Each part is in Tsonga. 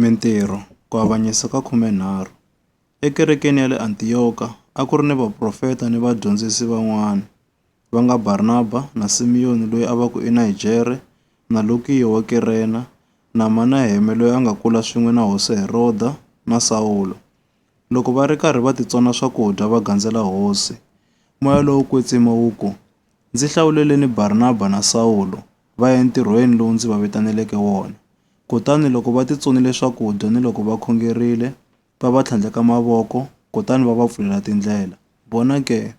Mintirho, Ku avanyisa ka khumenharhu, Ekerekeni ya le Antiyoka a ku ri ni vaprofeta ni vadyondzisi van'wana, va nga Barnaba na Simiyoni loyi a va ku i Nigere na Lukiyo wa Kirena na Manaheme loyi a nga kula swin'we na Hosi Heroda na Sawulo. Loko va ri karhi va titsona swakudya va gandzela Hosi, moya lowo kwetsima wu ku, Ndzi hlawuleleni Barnaba na Sawulo va ya entirhweni lowu ndzi va vitaneleke wona. Kutani loko va titsonile swakudya ni loko va khongerile, va va tlhandleka mavoko, kutani va va pfulela tindlela. Vona ke,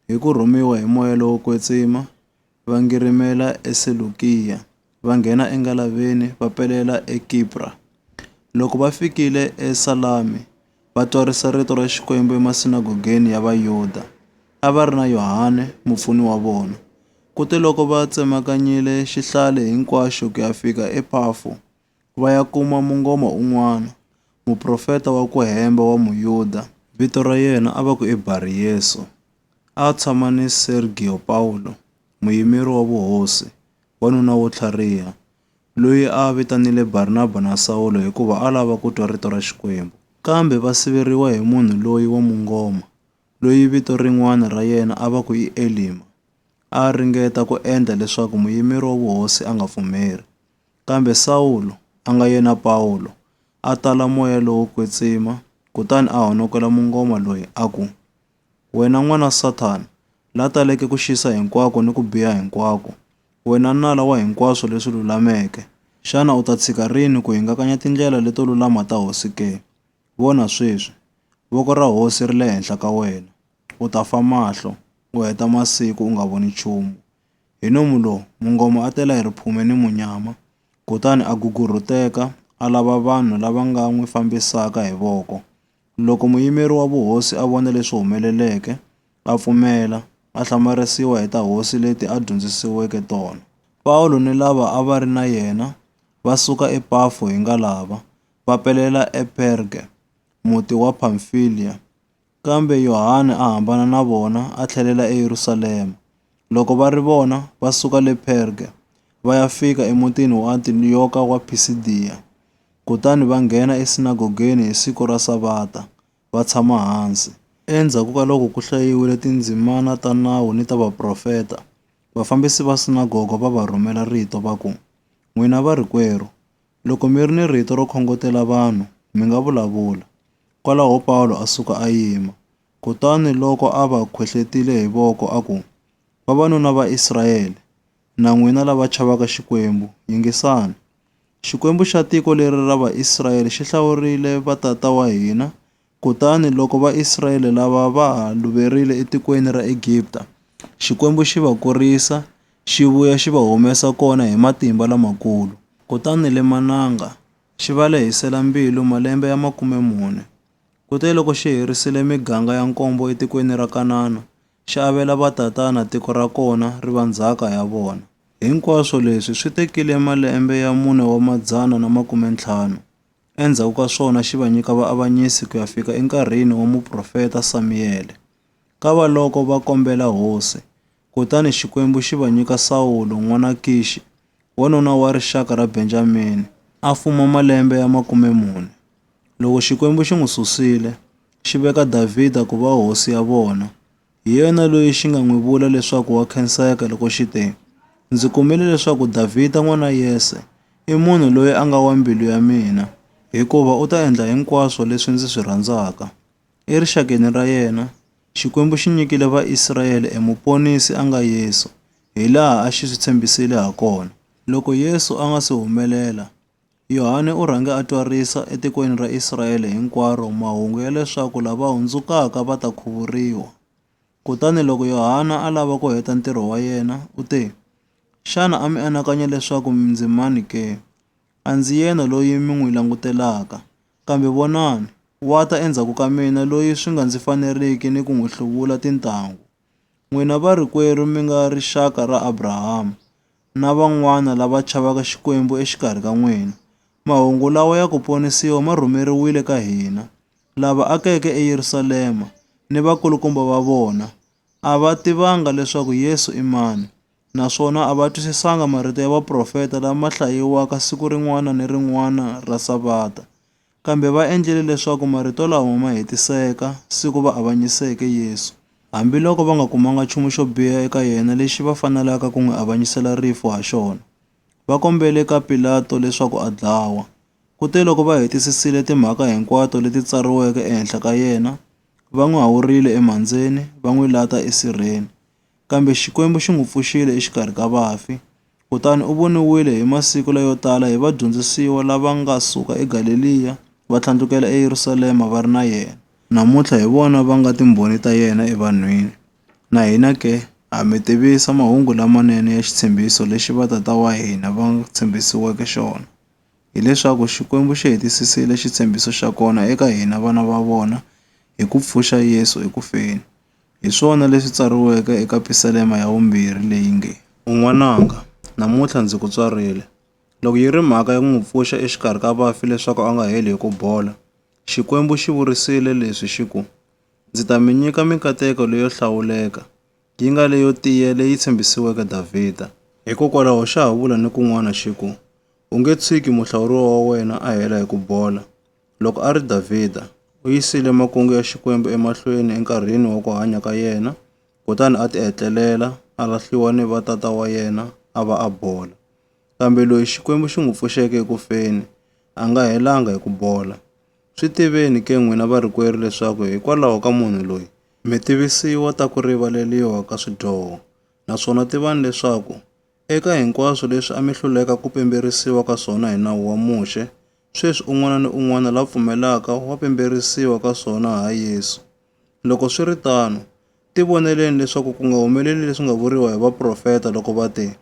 hi ku rhumiwa hi moya lowo kwetsima, va ngirimela eSelukiya, va nghena engalaveni va pelela eKipra. Loko va fikile eSalami, va twarisa rito ra Xikwembu emasinagogeni ya Vayuda. A va ri na Yohane, mupfuni wa vona. Kuteloko va tsemakanyile xihlale hinkwaxo ku ya fika ePafo, va ya kuma mungoma un'wana, muprofeta wa ku hemba wa Muyuda. Vito ra yena a va ku i Bariyesu. A a tshama ni Sergiyo Pawulo, muyimeri wa vuhosi, wanuna wo tlhariha, loyi a a vitanile Barnaba na Sawulo hikuva a lava ku twa rito ra Xikwembu. Kambe va siveriwa hi munhu loyi wa mungoma, loyi vito rin'wana ra yena a va ku i Elima, a a ringeta ku endla leswaku muyimeri wa vuhosi a nga pfumeri. Kambe Sawulo, a nga yena Pawulo, a tala moya lowo kwetsima kutani a honokela mungoma loyi a ku, Wena n'wana wa Sathana, la taleke ku xisa hinkwako ni ku biha hinkwako, wena nala wa hinkwaswo leswi lulameke, xana u ta tshika rini ku hingakanya tindlela leto lulama ta Hosi ke? Vona sweswi, voko ra Hosi ri le henhla ka wena. U ta fa mahlo, u heta masiku u nga voni nchumu. Hi nomu lowu, mungoma a tela hi riphume ni munyama, kutani a gugurhuteka, a lava vanhu lava nga n'wi fambisaka hi voko. Loko muyimeri wa vuhosi a vona leswi humeleleke, a pfumela, a hlamarisiwa hi ta hosi leti a dyondzisiweke tona. Pawulo ni lava a va ri na yena va suka ePafo hi ngalava, va pelela ePerge, muti wa Pamfiliya. Kambe Yohane a hambana na vona a tlhelela eYerusalema. Loko va ri vona, va suka le Perge, va ya fika emutini wa Antiyoka wa Phisidiya. Kutani va nghena esinagogeni hi siku ra Savata, va tshama hansi. Endzhaku ka loko ku hlayiwile tindzimana ta Nawu ni ta Vaprofeta, vafambisi va sinagoga va va rhumela rito va ku, N'wina varikwerhu, loko mi ri ni rito ro khongotela vanhu, mi nga vulavula. Kwalaho Pawulo a suka a yima. Kutani loko a va khwehletile hi voko a ku, Vavanuna va Israele, Na n'wina lava chavaka Xikwembu, yingisani! Xikwembu xa tiko leri ra Vaisraele xi hlawurile vatata wa hina, kutani loko Vaisraele lava va ha luverile etikweni ra Egipta, Xikwembu xi va kurisa, xi vuya xi va humesa kona hi matimba lamakulu. Kutani le Mananga xi va lehisela mbilu malembe ya makume mune. Kuteloko xi herisile miganga ya nkombo etikweni ra Kanana, xi avela vatatana tiko ra kona ri va ndzhaka ya vona. Hinkwaswo leswi swi tekile malembe ya mune wa madzana na makume-ntlhanu, endzhaku ka swona xi va nyika vaavanyisi ku ya fika enkarhini wa muprofeta Samiyele. Kavaloko va kombela hosi, kutani Xikwembu xi va nyika Sawulo n'wana Kixi, wanuna wa rixaka ra Benjamini, a fuma malembe ya makume-mune. Loko Xikwembu xi n'wi susile, xi veka Davhida ku va hosi ya vona. Hi yena loyi xi nga n'wi vula leswaku wa khenseka loko xi te, Ndzi kumile leswaku Davhida n'wana Yese i munhu loyi a nga wa mbilu ya mina, hikuva u ta endla hinkwaswo leswi ndzi swi rhandzaka. Erixakeni ra yena, Xikwembu xi nyikile Vaisrayele eMuponisi a nga Yesu, hilaha a xi swi tshembisile hakona. Loko Yesu a nga si humelela, Yohane u rhange a twarisa etikweni ra Israyele hinkwaro mahungu ya leswaku lava hundzukaka va ta khuvuriwa. Kutani loko Yohana a lava ku heta ntirho wa yena, u te, Xana a mi anakanya leswaku ndzi mani ke? A ndzi yena loyi mi n'wi langutelaka. Kambe vonani, wa ta endzhaku ka mina loyi swi nga ndzi faneriki ni ku n'wi hluvula tintangu. N'wina varikwerhu mi nga rixaka ra Abrahama, na van'wana lava chavaka Xikwembu exikarhi ka n'wina. Mahungu lawa ya ku ponisiwa ma rhumeriwile ka hina. Lava akeke eYerusalema ni vakulukumba va vona a va tivanga leswaku Yesu i mani, naswona a va twisisanga marito ya vaprofeta lama hlayiwaka siku rin'wana ni rin'wana ra Savata. Kambe va endlile leswaku marito lawa ma hetiseka siku va avanyiseke Yesu, hambiloko va nga kumanga nchumu xo biha eka yena lexi va fanelaka ku n'wi avanyisela rifu ha xona. Va kombele ka Pilato leswaku a dlawa. Kuteloko va hetisisile timhaka hinkwato leti tsariweke ehenhla ka yena, va n'wi hawurile emhandzeni, va n'wi lata esirheni. Kambe Xikwembu xi n'wi pfuxile exikarhi ka vafi, kutani u voniwile hi masiku layo tala hi vadyondzisiwa lava nga suka eGaleliya va tlhandlukela eYerusalema va ri na yena. Namuntlha hi vona va nga timbhoni ta yena evanhwini. Na hina ke, ha mi tivisa mahungu lamanene ya xitshembiso lexi vatata wa hina va tshembisiweke xona, hileswaku Xikwembu xi hetisisile xitshembiso xa kona eka hina vana va vona hi ku pfuxa Yesu eku feni. Hi swona leswi tsariweke eka pisalema ya vumbirhi leyi nge, U n'wananga, namuntlha ndzi ku tswarile. Loko yi ri mhaka ya ku n'wi pfuxa exikarhi ka vafi leswaku a nga heli hi ku bola, Xikwembu xi vurisile leswi xi ku, Ndzi ta mi nyika mikateko leyo hlawuleka, yi nga leyo tiya leyi tshembisiweke Davhida. Hikokwalaho xa ha vula ni kun'wana xi ku, U nge tshiki muhlawuriwa wa wena a hela hi ku bola. Loko a ri Davhida, u yisile makungu ya Xikwembu emahlweni enkarhini wa ku hanya ka yena, kutani a tihetlelela, a lahliwa ni va tata wa yena, a va a bola. Kambe loyi Xikwembu xi n'wi pfuxeke eku feni, a nga helanga hi ku bola. Swi tiveni ke n'wina varikwerhu leswaku hikwalaho ka munhu loyi, mi tivisiwa ta ku rivaleriwa ka swidyoho, naswona tivani leswaku, eka hinkwaswo leswi a mi hluleka ku pemberisiwa ka swona hi nawu wa Muxe, sweswi un'wana ni un'wana la pfumelaka wa pimberisiwa ka swona ha Yesu. Loko swi ri tano, tivoneleni leswaku ku nga humeleli leswi nga vuriwa hi vaprofeta loko va te,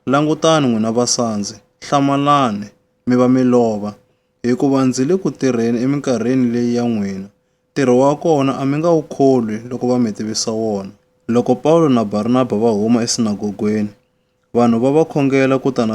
Langutani n'wina vasandzi, hlamalani, mi va mi lova, hikuva ndzi le ku tirheni eminkarhini leyi ya n'wina, ntirho wa kona a mi nga wu kholwi loko va mi tivisa wona. Loko Pawulo na Barnaba va huma esinagogweni, vanhu va va khongela ku ta na.